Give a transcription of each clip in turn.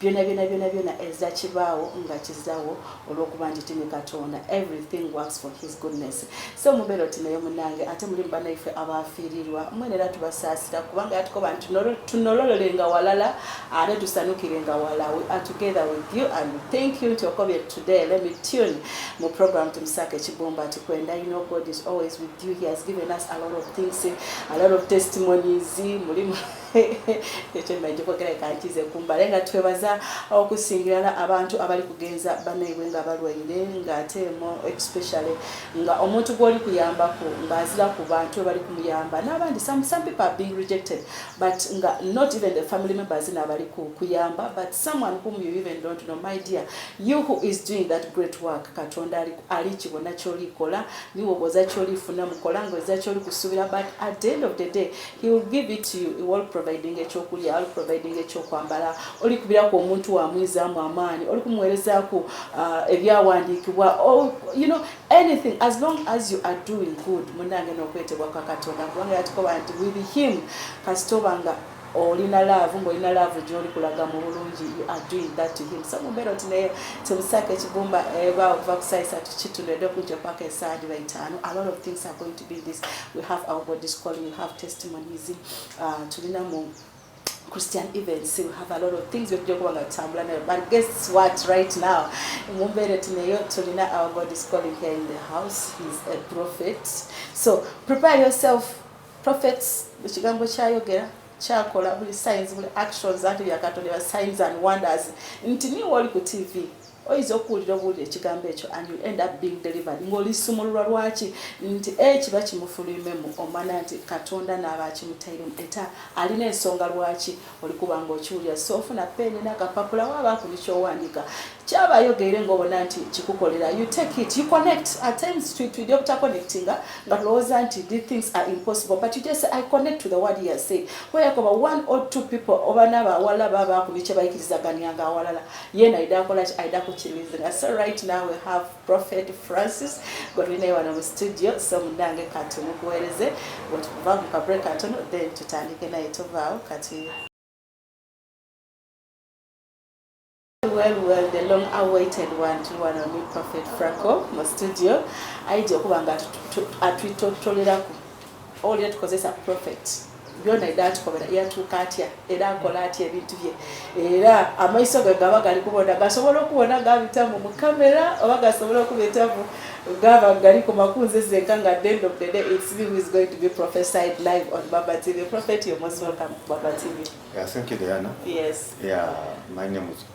byona byona byona byona eza kibaawo nga kizawo olwokuba nti tini katonda everything works for his goodness so mubeera oti naye munange ate muli mubanaife abafiirirwa mwene era tubasaasira kubanga yatuko bantu tunololole nga walala ate tusanukire nga wala we are together with you and thank you nti okobye today let me tune mu program tumusaka ekibumba ati kwenda you know god is always with you he has given us a lot of things a lot of testimonies mulimu ekyo mmanyi kyokogera ekankize kumbala nga twebaza okusingirala abantu abali kugenza banaibwe nga balwaire ng'ate emu especially nga omuntu gw'oli kuyambaku ng'azira ku bantu bebali kumuyamba n'abandi some, some people are being rejected but nga not even the family members naabali kuyamba but someone whom you even don't know my dear you who is doing that great work katonda ali kibona kyolikola niwoboza kyolifuna mukola ngoza kyoli kusubira but at the end of the day He will give it to you. He will providing ekyokulya, will providing ekyokwambala, oli kubiraku omuntu wamwizaamu amaani, oli kumuwerezaku uh, ebyawandiikibwa, oh, you know, anything as long as you are doing good. Munange nokwetebwa kwa Katonda kubanga yatukoba nti with him kasitoba nga olina laavu ng'olina laavu gy'oli kulaga mu bulungi you are doing that to him so mumbeera oti naye temusaako ekigumba eba eh, okuva kusaisa tukituno edde okunja paka esaadi baitaano a lot of things are going to Christian events we have a lot of things byetujja okuba nga tutambula nayo but guess what right now mu mbeera tuneyo tulina our god is calling here in the house he's a prophet so prepare yourself prophets ekigambo kyayogera kyakola buli signs buli actions anti byakatonda signs and wonders nti niwe oli ku tv oyinza okuwulira obuwulira ekigambo ekyo and you end up being delivered ng'olisumululwa lwaki nti e kiba kimufulimemu omwana nti katonda n'aba akimutairemu eta alina ensonga lwaki olikuba ng'okiwulira so ofuna peeni n'akapapula waaba akuli ky'owandiika kyaba ayogeere ng'obona nti kikukolera you take it you connect at times twidi obutaconnectinga nga tulowooza nti the things are impossible but you just say, i connect to the word you say weyakoba one or two people oba n'abawala baba akuli kye bayikirizaganyanga awalala yena ayida akola ki ayida kukirizinga so right now we have prophet francis gwe tulinaye wano mu studio so munange kati mukuwereze wetukuva mu kabre katono then tutandike naye tuvaawo kati well well the long awaited one tuli wano ni prophet franco mu studio ayija okuba nga atwitotoleraku Oli yatukozesa prophet byona edatukomera yatuuka atya era akola atya ebintu bye era amaiso ge gaba gali kubona gasobola okubona gabitamu mu kamera oba gasobola okubitamu gaba gali ku makunzi zeka nga the end of the day it's me who is going to be prophesied live on baba tv prophet you're most welcome to baba tv yeah, thank you diana yes yeah my name is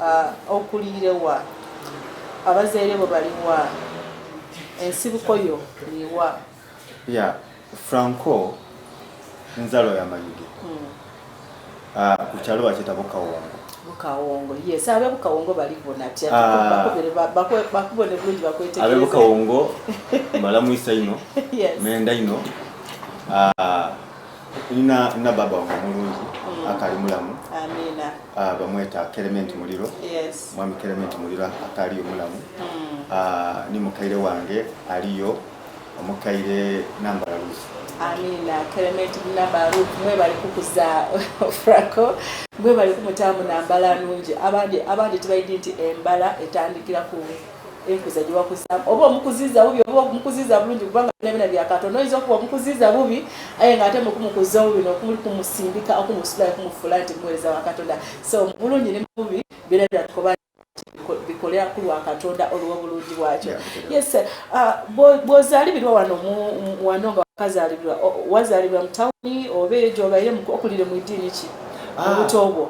Uh, okuliire wa? Abazaire bo bali wa? Ensibuko yo liwa? Yeah, Franco nzalo ya Mayuge. Mm. Uh, ku kyalo bakiyita Bukawongo. Bukawongo, yes. Abe Bukawongo bali bona atya? Uh, bakubone bulungi bakwetegereza. Abe Bukawongo malamu isa ino. yes. Menda ino. Uh, Nina na baba wange mulungi mm. akali mulamu. Amina. Ah bamweta Clement Muliro. Yes. Mwami Clement Muliro akali mulamu. Mm. Ah ni mukaire wange aliyo omukaire namba Ruth. Amina. Clement namba Ruth mwe bali kukuza Franco. Mwe bali kumutamu namba la nungi. Abandi abandi tibayidi nti embala etandikira ku enkuza gye wakuzaamu oba omukuziza bubi oba omukuziza bulungi kubanga bina bina bya katonda oyinza okuba omukuziza bubi aye nga ate mukumukuza obubi nokuli kumusindika okumusulayo kumufuula nti muweereza wa katonda so mubulungi ne mububi bina bina tukoba bikolera ku lwa katonda olw'obulungi bwakyo yes uh, bwozaalibirwa wano wano nga wakazaalibirwa wazaalibirwa mu tawuni oba eyo gyobaire okulire mu idiini ki ah. mu buto bwo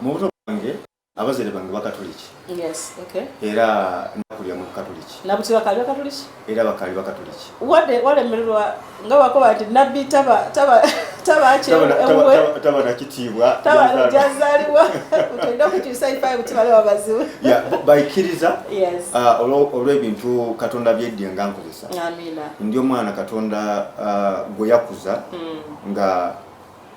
mu buto bwange abazere bange bakatuliki yes, okay. era nakulira mu bukatuliki nabuti bakali bakatuliki era bakali bakatuliki wade walemererwa nga wakoba nti nabbi taba taba taba taba nakitiibwa jazaliwa utenda okukyusa ifayo kuti bale babaziwe baikiriza ah, olw'ebintu katonda byeddye nga nkozesa ndi omwana katonda ah, gwe yakuza mm. nga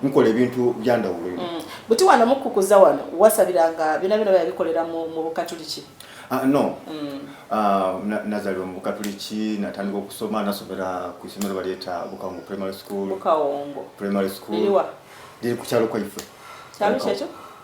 nkola ebintu byandawulo mm. buti wano mukukuza wano wasabiranga byona byona byabikolera mu bukatuliki ah, no mm. ah, nazalibwa mu bukatuliki natandika okusoma nasomera ku isomero balyeta bukawongo primary school bukawongo primary school liri kukyalo kwaife kyalo kyekyo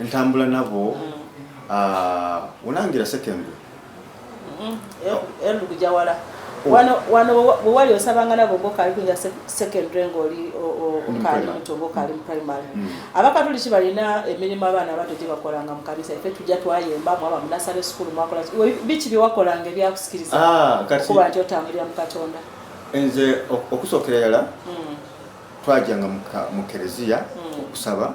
Ntambula nabo olangira sekengwe elukuja wala oh. wano wano wewali osabanga nabo ngokali kuinga secondary ngoli okali muto ngokali mu primary mm. abakatuliki balina emirimu abaana abato gye bakolanga mu kanisa ife tujja twayemba mwaba mu nasale sukulu mwakola biki bye wakolanga ebyakusikiriza ah, kuba nti otambulira mu katonda nze okusookera yala mm. twajanga mu kereziya mm. okusaba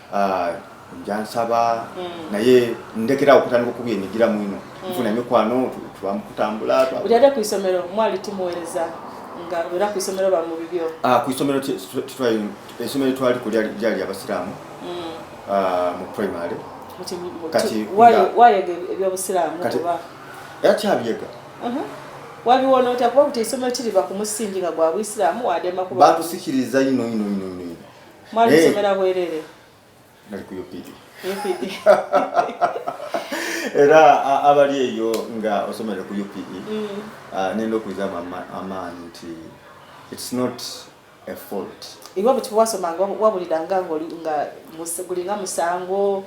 Ah, nja nsaba mm. naye ndekera okutandika okubi emigira mwino mm. nfuna emikwano twamukutambula ujade ku isomero mwali tumuwereza nga era ku isomero ba mu bibyo ah ku isomero twali isomero twali ku lyali lyali abasiramu mm. ah mu primary kati wayo wayo ebyo abasiramu kuba ya chabiyega uh -huh. wabi wona otakuba kuti isomero kiri ba kumusinjinga gwa abasiramu wadema kuba batusikiriza ino ino ino ino Mwali eh. musomera bwerere? Nali ku UPD. UPD. Era abali eyo nga osomera ku UPD. E, mm. ah, Nenda okuiza amaanyi nti it's not a fault. Iwe bwe wasomanga wabuliranga nga gulinga musango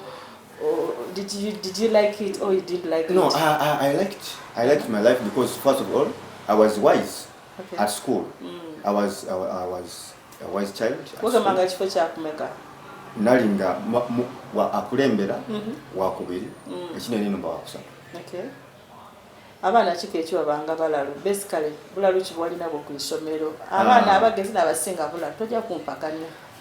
Oh, did you did you like it or you didn't like no, it? No, I, I, I liked I liked my life because first of all I was wise. okay. at school mm. I was, I, I was a wise child wagamanga kifo kyakumeka nali nga akulembera mm -hmm. wakubiri mm. ekinene nomba wakusatu okay. abaana kika ekiwa banga balalu basically bulalu kibwalinabo ku isomero abaana ah. abagezi nabasinga bulalu toja kumpakanya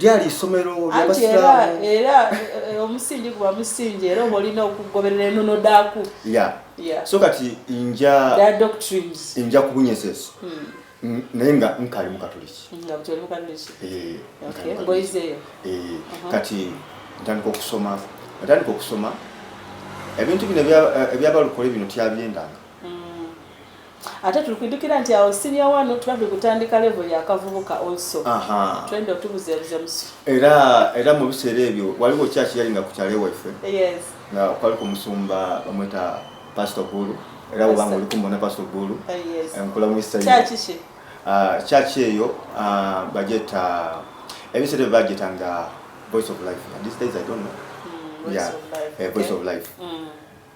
lyali isomero lyabasiraamu era eh, eh, omusingi guba musingi era oba olina okugoberera enono daaku so kati nja nja kubunyesa eso hmm. naye nga nkali mukatuliki eh, eh, uh-huh. kati ntandika okusoma ntandika okusoma ebintu bino ebyabalukole eh, bino tyabyendanga mm. ate tulikujukira nti awo senior wano tuba tukutandika level ya kavubuka also twende otubuzebuze musu era era mu biseera ebyo waliwo church yali nga kukyalo ewaffe yes nga kwali ku musumba bamweta pastor gulu era wobanga oli kumona pastor gulu ah, nkula mu isa church ki ah, church eyo ah, bajeta ebiseera ebyo bajeta nga voice of life and these days i don't know mm, voice yeah of life. Eh, voice okay. of life mm.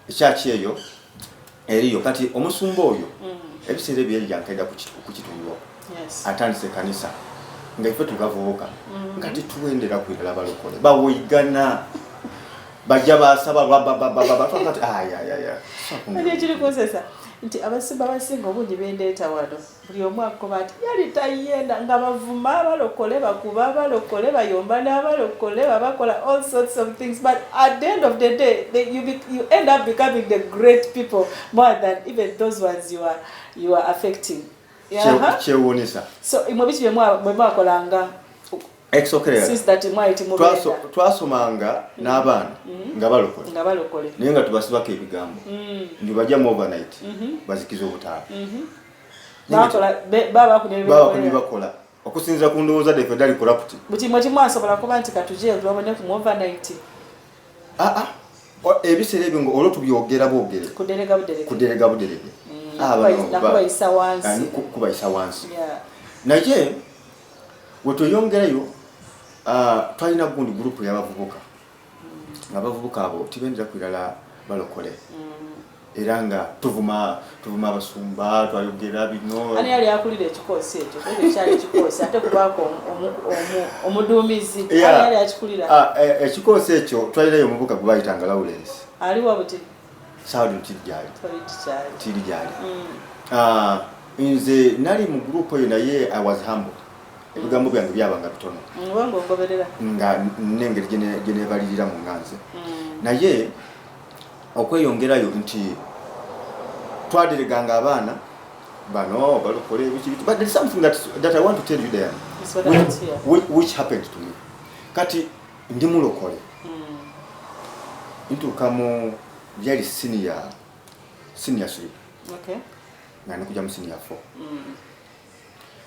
ekyaki eyo eriyo kati omusumba oyo mm. ebiseera ebyo yali yankeda ku kitundu atandise ekanisa nga ife tugavubuka mm. nga tituwendera kwirala balokole bawoigana bajja basaba bababababaaekiri kunsesa nti abasumba basinga obungi bendeeta wano buli omu akoba ati yali tayenda nga bavuma abalokole bakuba abalokole bayomba n'abalokole babakola all sorts of things but at the end of the day they, you, be, you end up becoming the great people more than even those ones you are, you are affecting kyewuunisa so mwe biki bye mwakolanga twasomanga mm. n'abaana mm. nga balokole naye nga tubasibako ebigambo mm. nti bajjamu overnight mm-hmm. bazikiza obutaala mm-hmm. babakubi bakola okusinzira ku ndowooza defe dali kulaputi buti mwe timwasobola kuba nti katuje tubabone ku overnight aa ah, ah. ebiseera ebyo nga olwo tubyogera bwogere kuderega buderege ah, kubayisa wansi naye wetweyongerayo ah, twalina gundi gurupu yabavubuka nga abavubuka abo tibendera kwirala balokole mm. era nga tuvuma tuvuma abasumba twayogera bino ani yali akulira ekikoosi ekyo ekyali ekikoosi ate kubaako omuduumizi yali akikulira ah, e, ekikoosi ekyo twalirayo omubuka gwe bayitanga lawrence aliwa buti Saudi kiri gyali. Kiri gyali. Mm. Ah, nze nali mu group eyo naye I was humble. Ebigambo byange byabanga bitono. Ngwango mm, ngoberera. Nga nengeri gene gene balirira mu nganze. Mm. Naye okweyongerayo nti twadireganga abaana bano balokole ebiki bitu but there is something that, that I want to tell you there which, which, which happened to me kati Ndi mulokole ntuuka mu yali siniya siniya siri nga nikuja mu siniya fo mm.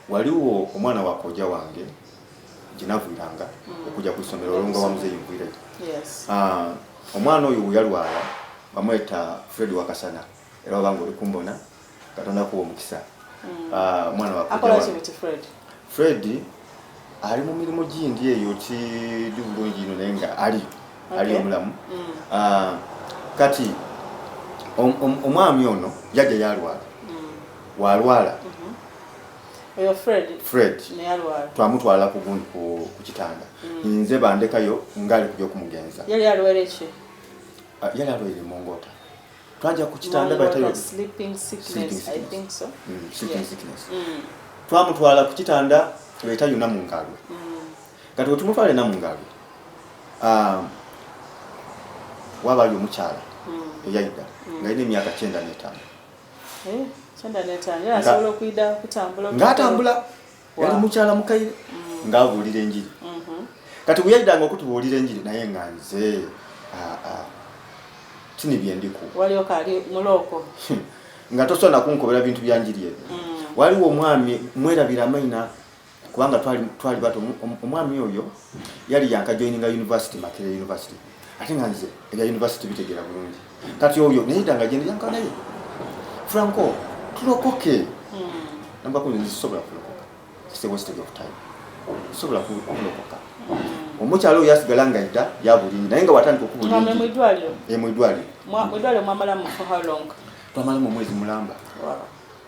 waliwo omwana wakoja wange gyenavuiranga mm. okuja ku ssomero olonga wa muzeeyi nvuireyo ah, omwana oyo yalwala bamweta fred wakasana mm. era wabanga oli kumbona katonda kuwa omukisa mm. ah, mwana wakola fred ali mu mirimu gindi eyo kidi bulungi ino naye nga ali ali omulamu mm. ah, kati omwami ono yajja yalwala mm. walwala mm-hmm. fred twamutwala ku kitanda mm. nze bandekayo ngaali kuja okumugenza yali alwaire ah, emongota twaja ku kitanda mm, mm. twamutwala ku kitanda tubaita yuna mu ngalo mm. kati wetumutwala ena mu ngalo um, wabayo omukyala eyaida nga ina emyaka kyenda netaano eh, ngatambula yali mukyala mukaire mm. ng'abuulira enjiri mm-hmm. kati bwe yaidanga okutubuulira enjiri naye nga nze kini bye ndiku hmm. nga tosobola nakunkobera bintu bya njiri ebyo mm. waliwo omwami mwerabira amaina kubanga twali bato omwami oyo yali yankajoininga university makerere university ate nga nze ebya university bitegeera bulungi kati oyo neyita nga jene yanka naye franco tulokoke hmm. namba kumi zisobola kulokoka it's a wastage of time sobola kulokoka hmm. omukyalo oyo yasigala nga edda yabulimi naye nga watandika okubulmwidwaliro eh, twamalamu omwezi mulamba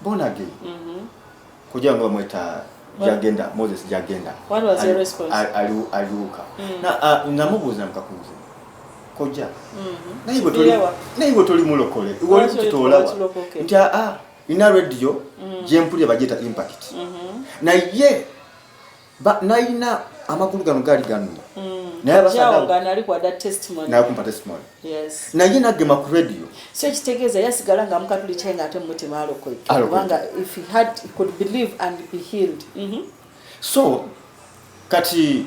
born again mm-hmm. kugira ngo bamweta jagenda moses jagenda aliwuka mm. namubuuza mukakunzi kojja mm-hmm. naye bwe toli mulokole walitutolawa nti aa ah, ah, ina radio mm. gyempulira bagyeta impact mm-hmm. naye Ba naina amakulu gano gali gano. Mm. Naye abasada gano ali kwa da testimony. Na kumpa testimony. Yes. Na yina gema ku radio. So ekitegeza yasigala nga mukatuli chenga ate muti malo kwe. Wanga if he had he could believe and be healed. Mhm. Mm so kati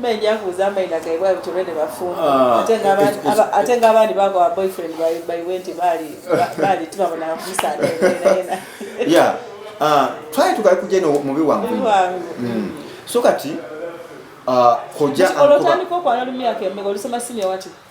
Menya kuza amaina gaye bwa bitore ne bafumbo. Ah, ate ngaba ate ngaba ni bako boyfriend by by went bali bali tiba bona musana. Yeah. Ah, try to kuja no mubi wangu. Mubi wangu. Mm. So kati ah koja ankuba. Olotani ko kwa nalumia kembe olisema senior wati.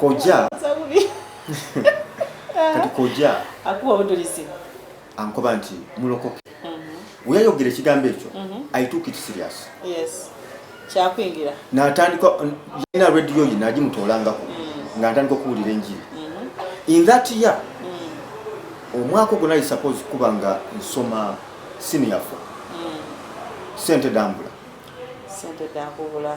Koja. Kati koja. Akuwa budulisi. Ankoba nti mulokoke. Mm -hmm. Uyayogere kigambo ekyo. Mm -hmm. I took it serious. Yes. Kyakwingira. Na atandika yina radio yina aji mutolanga ku. Mm -hmm. Na atandika kuulira enjiri. Mm -hmm. In that year. Mm -hmm. Omwako gona is suppose kubanga nsoma senior 4. Mm -hmm. Sente dambula. Sente dambula.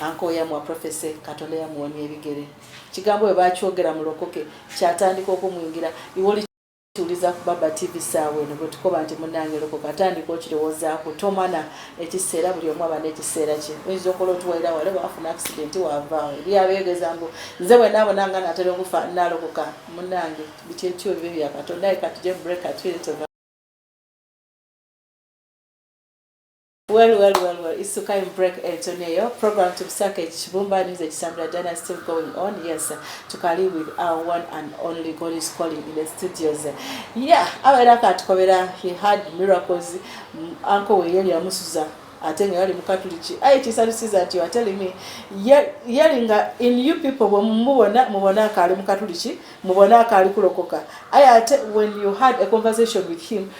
Anko yamwa profese katonda yamuwonya ebigere kigambo bwe bakyogera mulokoke kyatandika okumwingira iwoli tuliza ku baba tv saawa eno bwe tukoba nti munange lokoka atandika okirowoozaako tomana ekiseera buli omu aba n'ekiseera kye oyinza okola otuwalira wale waafuna akisidenti waavaawo eri abeegeza mbu nze bwe naabona nga naatera okufa nalokoka munange bityetyo bibe bya katonda ye katuje break atuyeteva Well, well, well, well. It's Sukai break Antonio. Program to Sake Chibumba news at Sambra Dana still going on. Yes, to Kali with our one and only God is calling in the studios. Yeah, awera katukobera he had miracles. Mm, Uncle Weyeli Amusuza. ate nga yali mukatuliki aye kisalusiza nti atelimi yali nga in you people bwemubona mubona akaali mukatuliki mubona akaali kulokoka aye ate when you had a conversation with him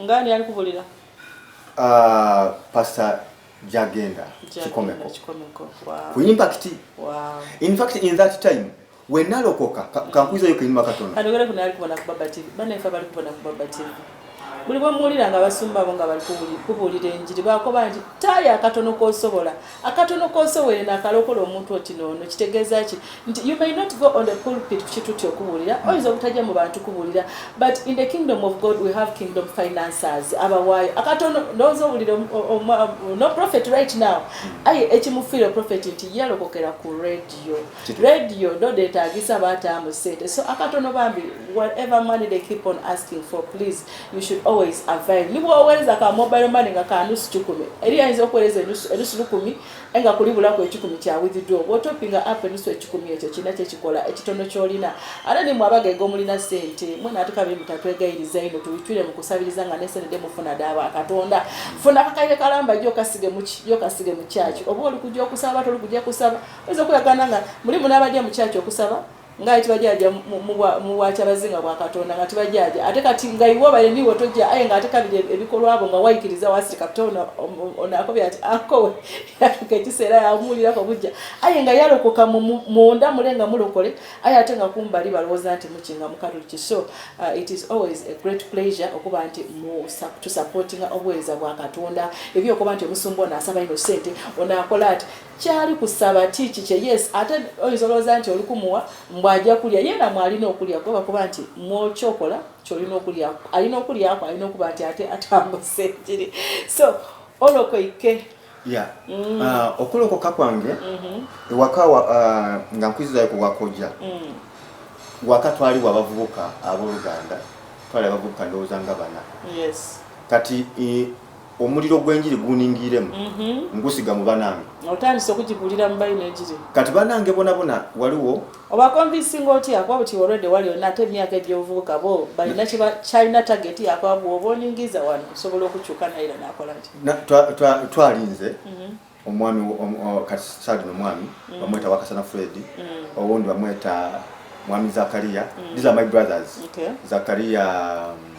ngani ali kubulira uh, pastor jagenda kikomeko ku impact wow. in fact in that time wenalokoka kankuiza yoka inuma katono anogera kuna ali kubona kubaba tv bana ifa bali kubona kubaba tv buli bwemuwulira nga abasumba abo nga bali kubulira enjiri bakoba nti taaya akatono kosobola akatono konsowere nakalokola omuntu oti noono kitegeeza ki nti you may not go on the pulpit kukituti okubuulira mm. oyinza obutajja mu bantu kubuulira but in the kingdom of god we have kingdom financers abawaayo akatono ndowooza owulira no prophet right now mm. aye ekimufiire prophet nti yalokokera ku radio radio ndodeetaagisa baataamu sente so akatono bambi whatever money they keep on asking for please You should always avail. Ni bw'oweereza ka mobile money nga ka nusu kikumi, eri ayinza okuweereza enusu enusu lukumi naye nga kulibulako ekikumi kya withdraw. Bw'otoppinga app enusu ekikumi ekyo kirina kye kikola ekitono ky'olina. Ate ni mwe abagege omulina ssente, mwe naatuka bye mutatwegayiriza ino tubitwire mu kusabiriza nga ne ssente mufuna daaba Katonda. Funa akakaire kalamba yo kasige mu ki yo kasige mu kyaki oba oli kujja okusaba oba toli kujja kusaba. Oyinza okulagana nga mulimu n'abajja mu kyaki okusaba. nga ayitibwa jaaja mu bwakyabazinga bwa katonda nga tiba jaaja ate kati nga iwe obaire niwe tojja aye nga ate kabiri e-, ebikolwa abo nga waikiriza wasirika kute onakobya ati akowe yatuka ekiseera yamuwulirako bujja aye nga yalokoka munda mule nga mulokole aye ate nga kumbali balowooza nti mukinga mukatuliki so uh, it is always a great pleasure okuba nti tusupportinga obuweereza bwa katonda ebyokuba nti omusumba ono asaba ino sente onakola ati kyali ku sabati kikye yes ate oyinza olowooza nti oli kumuwa mbu ajja kulya ye namwe alina okulya kuba kuba nti mwokyokola kyolina okulya alina okulyako alina okuba nti ate atambuse kiri so olokoike ya mm. ah, okulokoka kwange mm-hmm. ewaka ah, nga nkwizizayo kuwakoja mm. waka twaliwo abavubuka aboluganda twali abavubuka ndowooza nga bana kati omuliro gw'enjiri guningiremu mhm. ngusiga mu banange otandise okugibulira mu bayi n'enjiri kati banange bonabona waliwo oba konvinsinga otya kuba buti olwedde wali olina ate emyaka egy'obuvubuka bo balina kyalina tageti yakuba bwoba oningiza wano kusobola okukyuka naye era nakola nti twalinze mhm. omwami kati saadino omwami mhm. bamweta wakasana fredi owundi bamweta mwami zakariya these are my brothers zakariya um,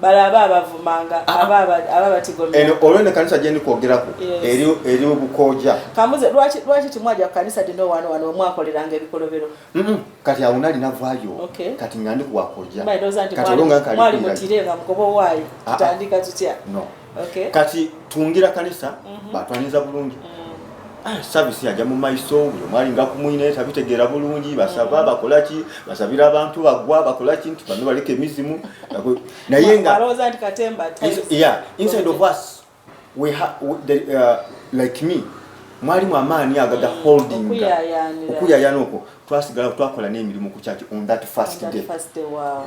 balaba abavumanga ah, ah. aba batigomya olwo ne kanisa gyendi kwogerako eri obukoja kambuze lwaki timwaja ku kanisa dino wano wano omwakoleranga ebikolobero kati awo nali navayo kati nga ndi kuwakoja kati olwo nga nkali mutire nga mugoba owaayo ah, tutandika tutya okay. kati tungira kanisa mm -hmm. batwaniza bulungi mm -hmm. ah, service yaja mu maiso uyo mwali nga kumwine tabitegera bulungi basaba mm -hmm. bakolaki basabira abantu bagwa bakolaki nti bano baleke mizimu naye nga baroza ndi katemba yeah inside of us we ha we, the, uh, like me mwali mu amaani agaga mm, holding okuyayana okwo twasigala twakola n'emirimu ku kyaki on that first day, first day wow.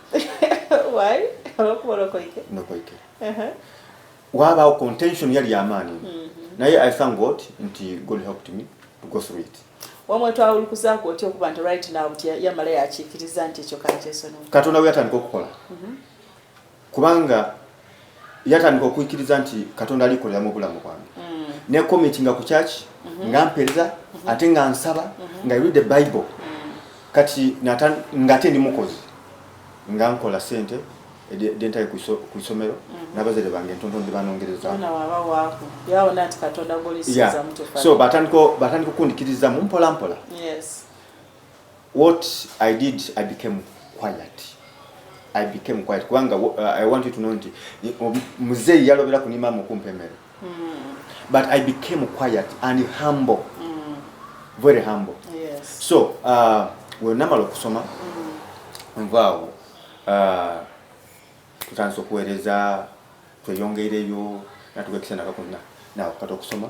waabaawo contention yali amaanyi mm-hmm. naye i thank god nti god helped me to go through it wamwe twawulukuzaako otya okuba nti right now nti yamala yakiikiriza nti ekyo kakyesonoo katonda we yatandika okukola mm-hmm. kubanga yatandika okuikiriza nti katonda alikolera mu bulamu bwange mm. nekomitinga ku kyaki mhm. nga mpereza mhm. ate nga nsaba mhm. nga read the bible mm. kati nga ate ndi mukozi nga nkola sente dentaye ku isomero nabazere bange ntonto ndi banongereza so batandika okundikirizamu mpolampola what i did i became quiet i became quiet kubanga uh, i want you to know nti um, muzeeyi yalobera ku nimama okumpa emere mm. but i became quiet and humble mm. very humble yes. so uh, wenamala okusoma mm. nvaawo uh, tutandisa okuweereza tweyongeireyo natuga ekisana kakuna nawe kata okusoma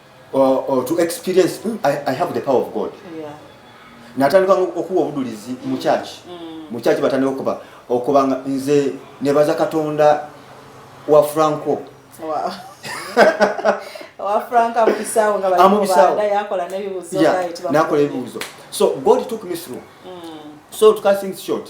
or, or to experience mm, I, I have the power of God yeah. natandika okuwa obudulizi mu church mm. mu church batandika okuba okuba nga nze nebaza katonda wa franco wow. nakola ebibuuzo so god took me through mm. so to cut things short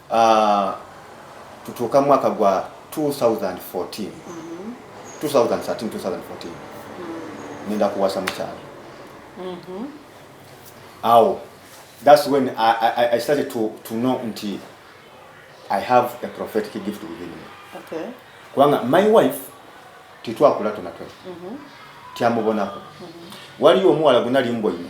uh, tutuuka mwaka gwa 2014 2013 nenda kuwasa mukyalo mm-hmm. awo that's when I, I, I started to, to know nti I have a prophetic gift within me okay. kubanga my wife titwakula tona twena mm-hmm. tyamubonako mm-hmm. waliyo omuwala gwenali mboine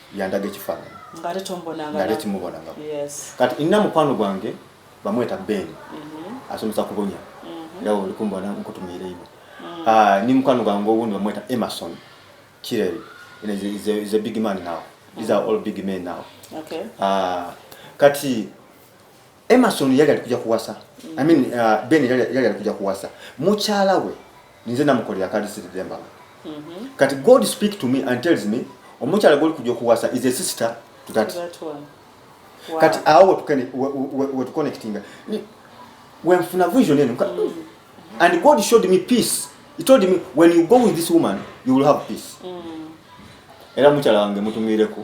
yandaga ekifaananyi ngate timubonanga kati nina mukwano gwange bamweta ben mhm. asomesa kubonya mhm. era olikumbona nkutumiire ino mm. ah, ni mukwano gwange owundi bamweta emerson kirel is a big man now these are all big men now ah, kati Emerson yali alikuja kuwasa I mean uh, Ben yali yali alikuja kuwasa mukyala we ninze namukolera akalisiri demba mm -hmm. kati God speak to me and tells me omukyala goli kuja kuwasa is a sister to that, that one. Wow. kati awo wetukene wetuconnectinga wenfuna vision eno mm. and God showed me peace he told me when you go with this woman you will have peace mm. era mukyala wange mutumireko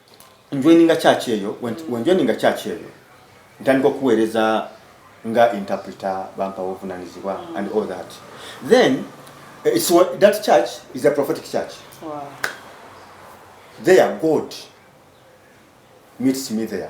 njoininga church eyo wenjoininga church eyo ntandika okuweereza nga interpreter bampa obuvunanyizibwa mm. and all that then eh, it's what, that church is a prophetic church wow. there god meets me there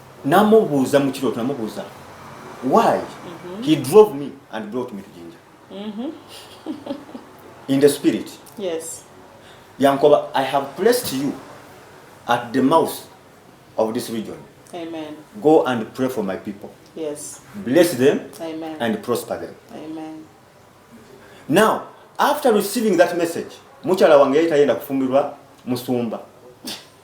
namubuuza mu kirooto namubuuza why mhm. he drove me and brought me to jinja mhm. in the spirit yes yankoba i have placed you at the mouth of this region amen go and pray for my people yes bless them amen and prosper them amen now after receiving that message mukyala wange yali tayenda kufumbirwa musumba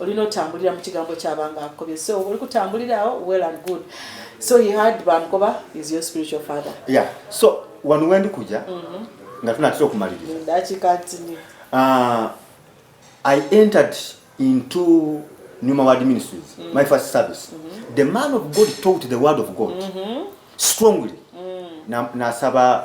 olina otambulira mu kigambo kyabanga akukobye so oli kutambulira awo well and good so he had bamukoba is your spiritual father yeah so wano wendi kuja mm -hmm. nga tunatera okumaliriza ndakika ntini uh, i entered into new maward ministries mm -hmm. my first service mm -hmm. the man of god taught the word of god mm -hmm. strongly mm. nasaba na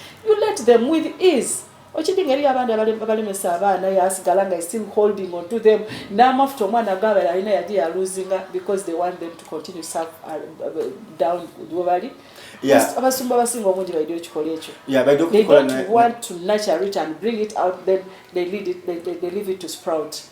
you let them with ease okidi ngeri abandi abalemesa abaana yasigala nga still holding on to them n'amafuta omwana gabala alina yaje yaluzinga because they want them to continue serve uh, uh, down webali abasumba abasinga obungi baidwa ekikola ekyo they don't want to nurture it and bring it out then they lead it, they, they, they leave it to sprout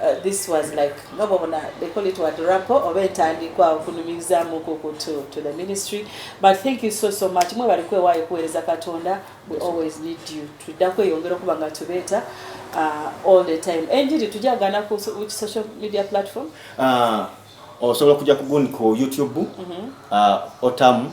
Uh, this was like nga bwobona they call it what rapo oba entandikwa okunumirizamu kuku to, to the ministry but thank you so so much mwe bali kwewaayo kuweereza katonda we always need you tudda kweyongera okuba nga tubeeta uh, all the time enjiri tujagana ku which social media platform uh, osobola kujja kugundi ku youtube mm -hmm. uh, otamu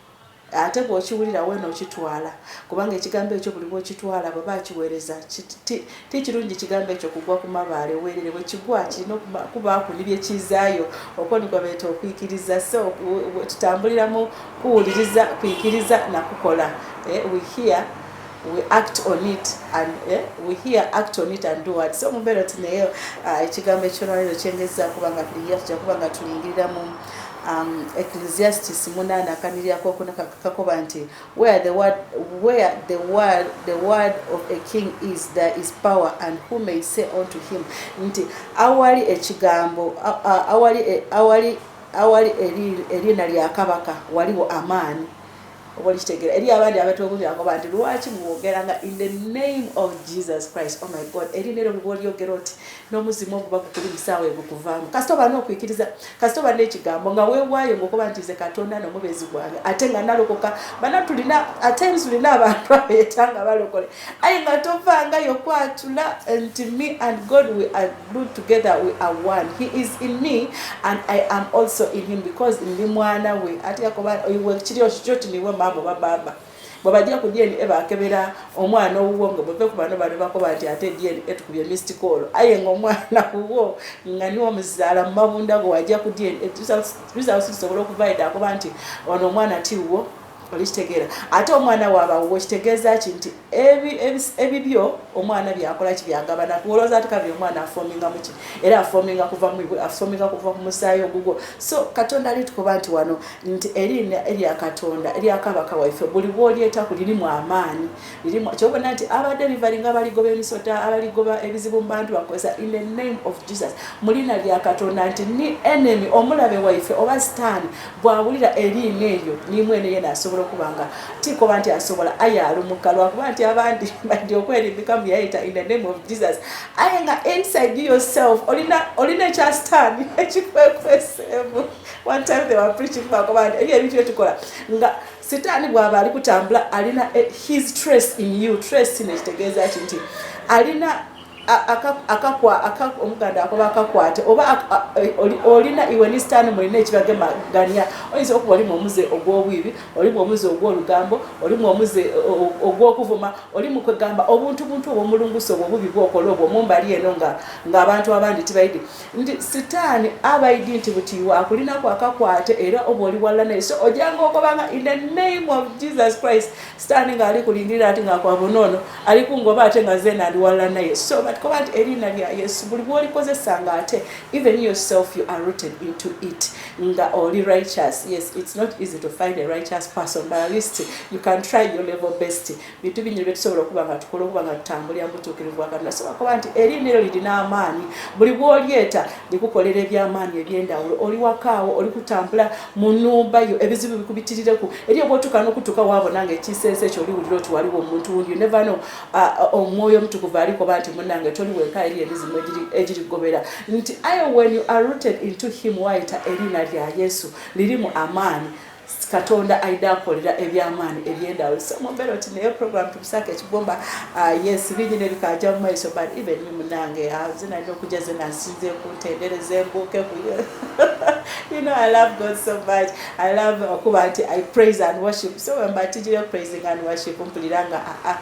Ate bw'okiwulira weena okitwala kubanga ekigambo ekyo buli bw'okitwala baba akiweereza ti ti kirungi kigambo ekyo kugwa ku mabaale weerere bwe kigwa kirina okubaako ne bye kizaayo okwo nigwa beeta okwikiriza so tutambuliramu kuwuliriza kwikiriza na kukola eh, we hear we act on it and eh, we hear act on it and do what so mubeera ti naye ah, ekigambo ekyolwaliro kyengezaako kubanga buli year tujja kuba nga tulingirira mu Um, Ecclesiastes munaana akaniri akokuna kakoba nti where the word, where the word, the word of a king is there is power and who may say unto him nti awali ekigambo awali e, awali awali eriina lya kabaka waliwo amaani oba olikitegera eri abandi abatobubyako banti lwaki mwogera nga in the name of jesus christ oh my god eri nero bwe bolyogera oti n'omuzimu oguba gukuli musaawa egukuvaamu kasita oba n'okwikiriza kasita oba n'ekigambo nga wewaayo ngaokuba nti nze katonda nomubezi gwange ate nga nalokoka bana tulina atensi tulina abantu abeta nga balokole Aye nga tovanga yo kwatula nti me and God we are good together we are one he is in me and I am also in him because ndi mwana we ati yakoba oyiwe kiri oshoti niwe mambo ba baba bwabajja ku DNA bakebera omwana owuwo nga bweve ku bano bano bakoba nti ate DNA tukubye missed call aye nga omwana wuwo nga niwo omuzaala mu mabunda go wajja ku DNA results results zisobola okuvaida akoba nti ono omwana ti wuwo olikitegeera ate omwana wabawo wekitegeeza ki nti ebibyo omwana byakola ki byagabana kuwolooza ati kabiri omwana afominga muki era afominga kuva afominga kuva ku musaayi ogugwo so katonda alitukuba nti wano nti eriina erya katonda eryakabaka waife buli bwolyeta kulirimu amaanyi kyobona nti abadelivery nga abaligoba emisota abaligoba ebizibu mu bantu bakozesa in the name of jesus mu liina lya katonda nti ni enemy omulabe waife oba sitaani bwawulira eriina eyo nimwene yena asobola okuba nga tikoba nti asobola aye alumuka lwakuba nti abandi badi okwerimbika mu yayita in the name of jesus aye nga inside yourself olina ekya sitaani ekikwekweseemu one time they were preaching bakoba nti ebyo ebintu byetukola nga Sitaani bw'aba ali kutambula alina eh, his trace in you. Trace kino ekitegeeza ki nti alina omuganda akoba akakwate oba eh, olina iwe ne sitaani mulina ekibagemaganya oyinza okuba olimu omuze ogw'obwibi olimu omuze ogw'olugambo olimu omuze eh, ogw'okuvuma oli mu kwegamba obuntubuntu obwomulungusa obwo obubi bwokola obwo mumbali eno ng'abantu abandi tibayidi nti sitaani abaidi nti buti iwe akulinako akakwate era oba oli walla naye so ojanga ogobanga in the name of jesus christ sitaani ngaali kulingirira ati ngakwabonoono ali kungoba ate nga zena ndi walla naye so batikoba nti eriina lya yesu buli bwolikozesa nga ate even yourself you are rooted into it nga oli righteous yes it's not easy to find a righteous person but at least you can try your level best bintu bingi byetusobola okuba nga tukola okuba nga tutambulira mubutuukirivu bwa katonda sobola kuba nti eriina eryo lirina amaanyi buli bwolyeta likukolera ebyamaanyi ebyendawulo oli wakaawo oli kutambula mu numba yo ebizibu bikubitirireku eri obwotuuka nokutuuka wabona nga ekisensi ekyo oliwulira oti waliwo omuntu wundi neva no omwoyo omutukuvu alikoba nti munange toli weka eri emizimu egirigobera nti i when you are rooted into him waita eriina lya yesu lirimu amaanyi katonda aida akolera ebyamaani ebyendawo so mumbeera oti naye program tubisaka ekigomba ah, yes bingi nebikaja mumaiso but even ni munange ah, zinalina okuja zenasinze kuntendereza embuuke kuyo you know i love god so much i love okuba uh, nti i praise and worship so wemba tijire praising and worship mpulira nga aa ah,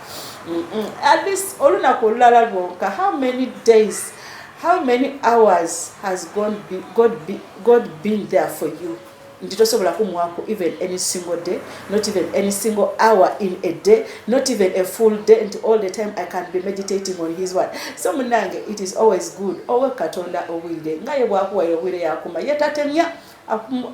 mm, mm. at least olunaku olulala lwonka how many days how many hours has god be, god be, god been there for you nti tosobola kumwako even any single day not even any single hour in a day not even a full day nti all the time i can be meditating on his word so munange it is always good owe katonda obwire nga ye bwakuwaire obwire yakuma ye tatemya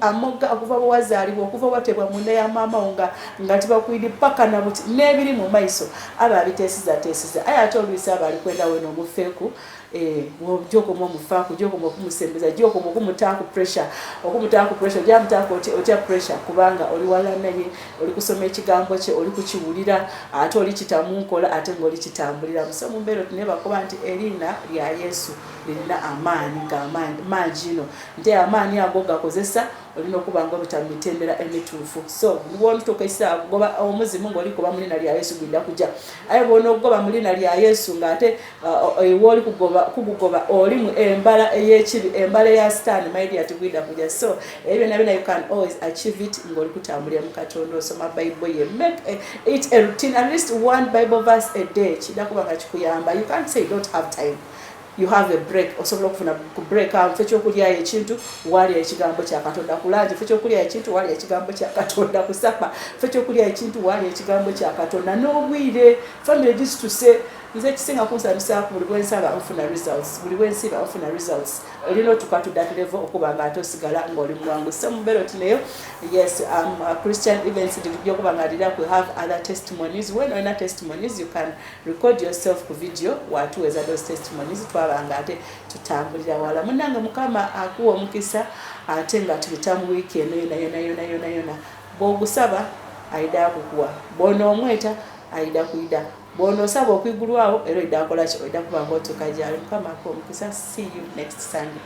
amoga okuva bwewazaalibwa okuva watebwa munda ya maama wo nga nga tibakwidi paka nabuti n'ebiri mu maiso aba abiteesizateesiza aye ate oluisi aba ali kwenda weno omufeeku Eh, ojja okoma omufaako ojja okoma okumusembeza ojja okoma okumutaako pressure okumutaako pressure ojja mutaako otya pressure kubanga oli wala naye oli kusoma ekigambo kye oli kukiwulira ate oli kitamunkola ate ngaoli kitambulira musa mumbeera otune bakuba nti eriina lya yesu lirina amaanyi ngaamaanyi maangi ino nti amaanyi ago gakozesa olina okuba nga obita mu mitendera emituufu so bwontukaisa kugoba omuzimu ngaoli kuba mu liina lya yesu gwinda kujja aye bwona okugoba mu liina lya yesu ngaate oyo woli kugoba kugugoba oli mu embala eyekibi embala ya stan my dear tugwida kuja so ebyo nabyo you can always achieve it ngoli kutambulira mu katonda osoma bible ye make a, it a routine at least one bible verse a day kida kuba kachikuyamba you can't say you don't have time you have a break osobola okufuna ku break awo fe kyokulya ekintu wali ekigambo kya katonda kulanje fe kyokulya ekintu wali ekigambo kya katonda kusapa fe kyokulya ekintu wali ekigambo kya katonda n'obwire family this to say Nze ekisinga kunsanyusa buli bwensaba nfuna results, buli bwensiba nfuna results. Olina otuka to that level okuba nga ate osigala ng'oli mwangu so mubeera oti nayo yes um, uh, Christian events ndijja okuba nga ndira ku have other testimonies when olina testimonies you can record yourself ku video watuweza those testimonies twaba nga ate tutambulira wala munange mukama akuwa omukisa ate nga tuyita mu wiiki eno yona yona yona yona yona bwogusaba ayida kukuwa bona omweta ayida kuyida Bwonosaba okwigulwawo era oida kolaki oida kuba nga otuka gyali mukama akuwa omukisa see you next Sunday.